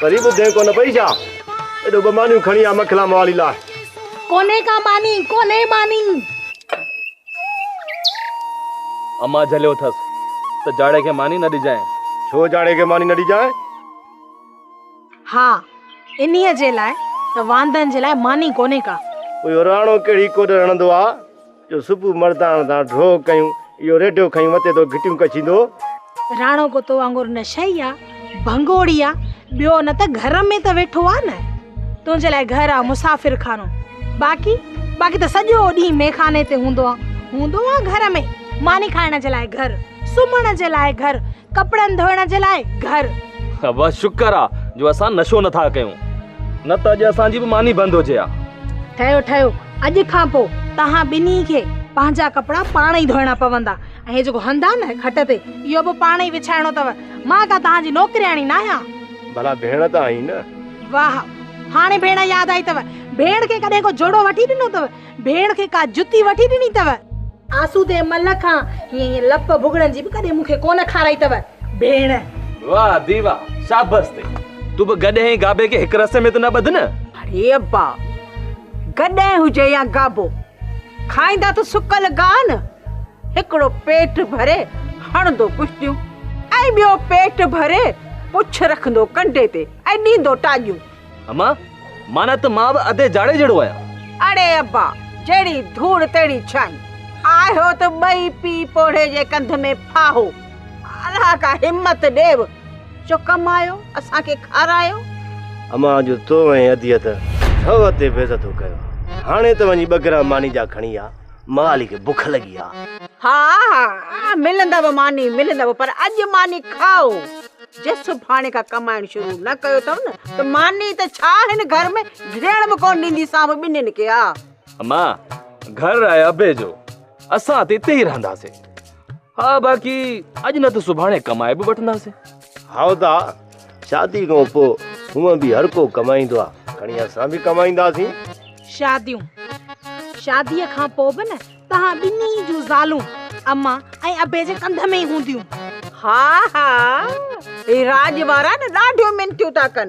پري ٻڌين ڪونه پئي ڇا؟ ايڏو ٻه مانيون کڻي آ مکلا موالي لاء. ڪونهي ڪا ماني، ڪونهي ماني. امان جهليو اٿس ته جاڙي کي ماني نه ڏجانء. ڇو جاڙي کي ماني نه ڏجانء؟ ها، انهيء جي لاء ته واندن جي لاء ماني ڪونهي ڪا. پوء راڻو ڪهڙي ڪوڏ رڙهندو آ؟ جو صبح مردان تان ڍوء ڪيون. اهو ريڍو کنيون مٿي تو گهٽيون ڪڇيندو. راڻو ڪتو وانگر نشئي آ، ڀنگوڙي آ، ٻيو نه ته گهر ۾ ته ويٺو آ نه. تنهنجي لاء گهر آ مسافر خانو. باقي باقي ته سڄو ڏينهن ميخاني تي هوندو آ. هوندو آ گهر ۾ ماني کائڻ جي لاء گهر، سمهڻ جي لاء گهر، ڪپڙن ڌوئڻ جي لاء گهر. ابا شڪر آ جو اسان نشو نه ٿا ڪيون. نه ته اڄ اسان جي به ماني بند هجي ها. ٺهيو ٺهيو اڄ کان پوء توهان ٻنهي کي پنهنجا ڪپڙا پاڻ ئي ڌوئڻا پوندا ۽ هي جيڪو هنڌ آهي نه کٽ تي اهو به پاڻ ئي وڇائڻو اٿو. مان ڪا توهان جي نوڪرياڻي ناهيان. ڀلا ڀيڻ ته آهين نه. واهه! هاڻي ڀيڻ ياد آئي اٿو. ڀيڻ کي ڪڏهن ڪو جوڙو وٺي ڏنو اٿو؟ ڀيڻ کي ڪا جتي وٺي ڏني اٿو؟ آسودي مل کان هيئن هيئن لپ ڀڳڙن جي به ڪڏهن مون کي ڪونه کارائي اٿو. ڀيڻ! واهه ڌيء واهه! شابس تي. تون به گڏهين گابي کي هڪ رسي ۾ ته نه ٻڌ نه. اڙي ابا! گڏهه هجي يا گابو، کائيندا ته سڪل گاهه نه، هڪڙو پيٽ ڀري هڻندو پشتيون ۽ ٻيو پيٽ ڀري پڇ رکندو ڪنڊي تي ۽ ڏيندو ٽاڄيون. اما، معنيٰ ته مان به ادي جاڙي جهڙو آهيان. اڙي ابا، جهڙي ڌوڙ تهڙي ڇانء، آهيو ته ٻئي پيء پوڙهي جي ڪنڌ ۾ ڦاهو. الله کا همت ڏيو جو ڪمايو اسان کي کارايو. امان اڄ تو ۽ اديت ٿو تي بيزتو ڪيو هاڻي ته وڃي ٻه گرام ماني جا کڻي آ مالي کي بک لڳي آ. ها ها ملندو ماني ملندو پر اڄ ماني کائو جي سڀاڻي کان ڪمائڻ شروع نه ڪيو ٿو نه ته ماني ته ڇا هن گهر ۾ ڌريڻ به ڪونه ڏيندي سام ٻنين کي آ. امان گهر آهي ابي جو اسان ته اتي ئي رهنداسين. ها باقي اڄ نه ته سڀاڻي ڪمائي به وٺنداسين. هائو ته ها، شادي کان پوء هونئن به هر ڪو ڪمائيندو آ، کڻي اسان به ڪمائينداسين. شاديون، شاديء کان پوء به نه توهان ٻنهي جون زالون امان ۽ ابي جي ڪنڌ ۾ ئي هونديون. ها ها، هي راڄ وارا نه ڏاڍيون منٿيون ٿا ڪن.